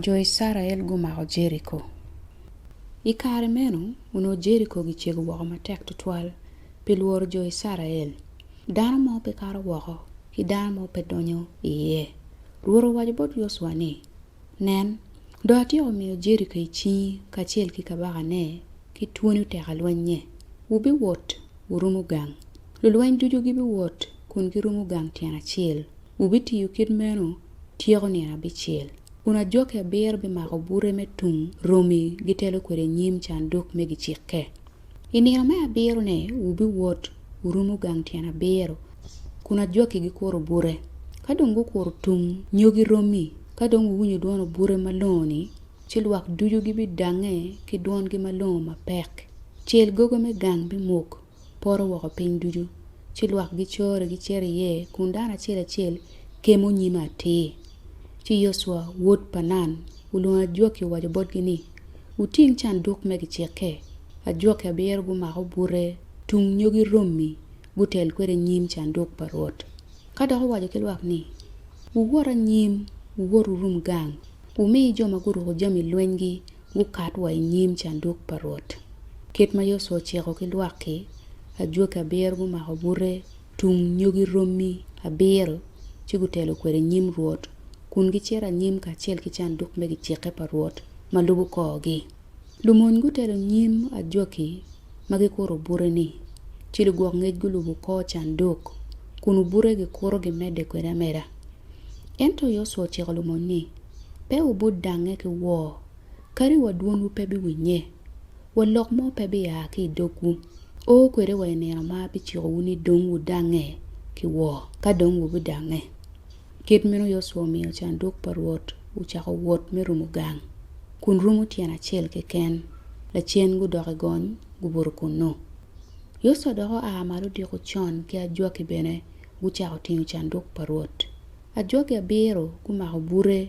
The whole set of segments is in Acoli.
Jo Icrael gumako Jeriko. I kare meno onongo Jeriko gicego woko matek tutwal pi lworo jo Icrael. Dano mo pe kato woko ki dano mo pe donyo iye. Rwot owaco bot Yocwa ni, 'Nen, dong atyeko miyo Jeriko i cingi kacel ki kabakane ki twoni oteka lwennye. Wubiwot wurumo gang. Lulweny ducu gibiwot kun girumo gang tyen acel. Wubitiyo kit meno tyeko nino abicel, kun ajoki abiro bimako bute me tung romi gitelo kwede i nyim canduk me gicikke. I nino me abiro-ne wubiwot wurumo gang tyen abiro, kun ajoki gikuro bute. Ka dong gukuro tung nyogi romi, ka dong wuwinyo dwon obute malongo-ni, ci lwak ducu gibidangnge ki dwongi malongo mapek. Cel gogo me gang bimuk, poto woko piny ducu, ci lwak gicore gicito iye kun dano acel acel kemo nyime atir. Ci Yocwa wod pa Nun olwongo ajwaki owaco botgi ni, Wuting canduk me gicikke. Ajwaki abiro gumako bute tung nyo giromi gutel kwede nyim canduk pa Rwot. Ka dok owaco ki lwak ni, Wuwot anyim, wuwot wurum gang, wumi jo ma guruko jami lwenygi Wukat wa i nyim canduk pa Rwot. Kit ma Yocwa ociko ki lwak-ki, ajwaki abiro gumako bute tung nyogi romi abiro ci gutelo kwede i nyim Rwot, kun gicito anyim kacel ki canduk me gicikke pa Rwot ma lubo korgi. Lumony gutelo nyim ajwaki ma gikuto bute-ni, ci lugwok ngec gulubo kor canduk kun obute gikuto gimedde kwede ameda. Ento Yocwa ociko lumony ni, Pe wubut dangnge ki woo, kadi wa dwonwu pe biwinnye, wa lok mo pe bia ki i dogwu. O kwede wa i nino ma abicikowu ni dong wudangnge ki woo, ka dong wubidangnge. Kit meno Yocwa omiyo canduk pa Rwot ocako wot me rumo gang, kun rumo tyen acel keken. Lacen gudok i gony, gubuto kunnu. Yocwa dok oa malo odiko con ki ajwaki bene gucako tingo canduk pa Rwot. Ajwagi abiro gumako bute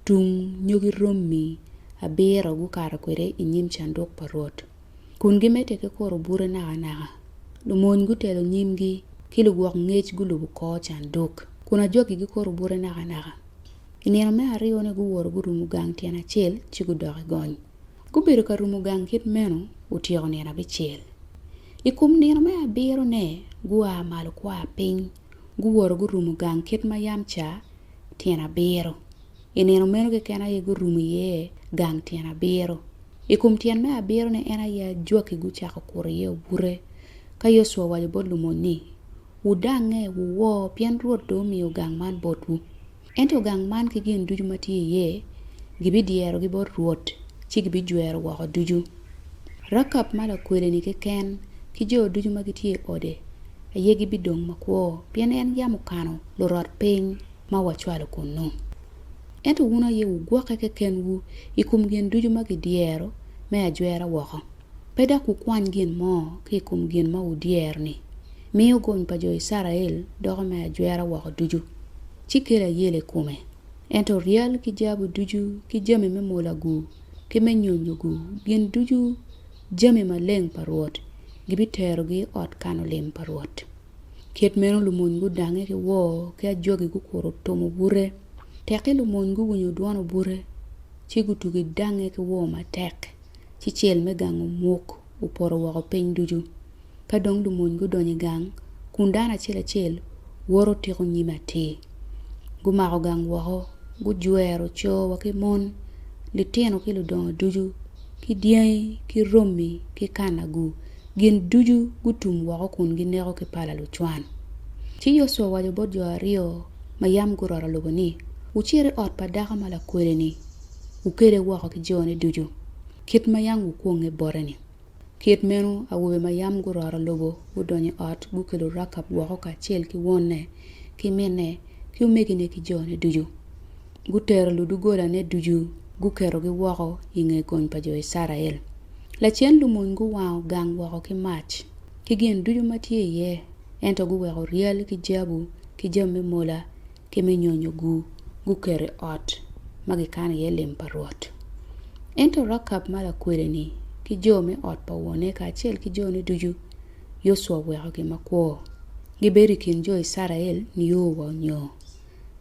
tung nyogi romi abiro gukato kwede i nyim canduk pa Rwot, kun gimedde ki kuro bute nakanaka. Lumony gutelo nyimgi, ki lugwok ngec gulubo kor canduk, kun ajwagi gikuro bute nakanaka. I nino me aryone guwoto gurumo gang tyen acel ci gudok i gony. Gubedo ka rumo gang kit meno otyeko nino abicel. I kom nino me abirone gua malo gua piny guworo gurumo gang kit ma yam ca tyen abiro. I nino meno keken aye gurumo iye gang tyen abiro. I kom tyen me abiro-ni en aye ajwaki gucako kuro iye obute. Ka Yocwa owaco bot lumony ni, Wudangnge, wuwo, pien Rwot dong omiyo gang man botwu. Ento gang man ki gin ducu ma tye iye gibidyerogi bot Rwot ci gibijwero woko ducu. Rakab ma lakwede-ni keken ki jo ducu ma gitye i ode aye gibidong makwo, pien en yam okano lurot piny ma wacwalo kunnu. Ento wun aye wugwokke kekenwu i kom gin ducu ma gidyero me ajwera woko. Pe dok wukwany gin mo ki i kom gin ma wudyero-ni. Miyo gony pa jo Icrael doko me ajwera woko ducu, ci kel ayela i kome. Ento ryal ki jabu ducu ki jami me mola-gu ki me nyonyo-gu, gin ducu jami maleng pa Rwot, gibiterogi i ot kano lim pa Rwot. Kit meno lumony gudange ki woo ki ajwagi gukuro otumo bute. Tekki lumony guwinyo dwon obute, ci gutugi dange ki woo matek. ci cel me gang omuk opoto woko piny ducu. Ka dong lumony gudonyo i gang, kun dano acel acel woto tiko nyime atir. Gumako gang woko, gujwero co wa ki mon, litino ki ludongo ducu, ki dyangi ki romi ki kanagu, gin ducu gutum woko kun gineko ki pala lucwan. Ci Yocwa owaco bot jo aryo ma yam guroto lobo ni, Wucit i ot pa dako ma lakwede-ni. wukele woko ki jone ducu, kit ma yam wukwonge bote-ni. Kit meno awobe ma yam guroro lobo gudonyo i ot, gukelo Rakab woko kacel ki wonne ki minne ki omegine ki jone ducu. Gutero ludogolane ducu, guketogi woko i nge gony pa jo Icrael. Lacen lumony guwango gang woko ki mac, ki gin ducu ma tye iye, ento guweko ryal ki jabu ki jami me mola ki me nyonyo guketo i ot ma kikano iye lim pa Rwot. Ento Rakab ma lakwede-ni ki jo me ot pa wone kacel ki jone ducu, Yocwa owekogi makwo. Gibedo i kin jo Icrael nio wa onyo.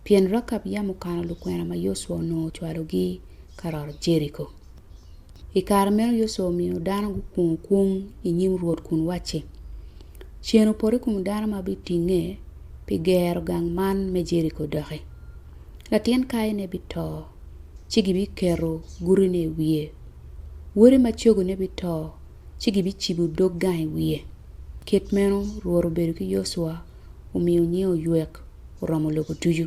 Pien Rakab yam okano lukwena ma Yocwa onongo ocwalogi ka roto Jeriko. I kare meno Yosua omiyo dano gukwongo kwong i nyim Rwot kun wacci, Cen opot i kom dano ma bitinge pi gero gang man me Jeriko doki. Latin kayine bito, ci gibiketo gutine i wiye. Wode macogone bito, ci gibicibo dog gang i wiye. Kit meno Rwot obedo ki Yosua, omiyo nyinge oywek oromo lobo ducu.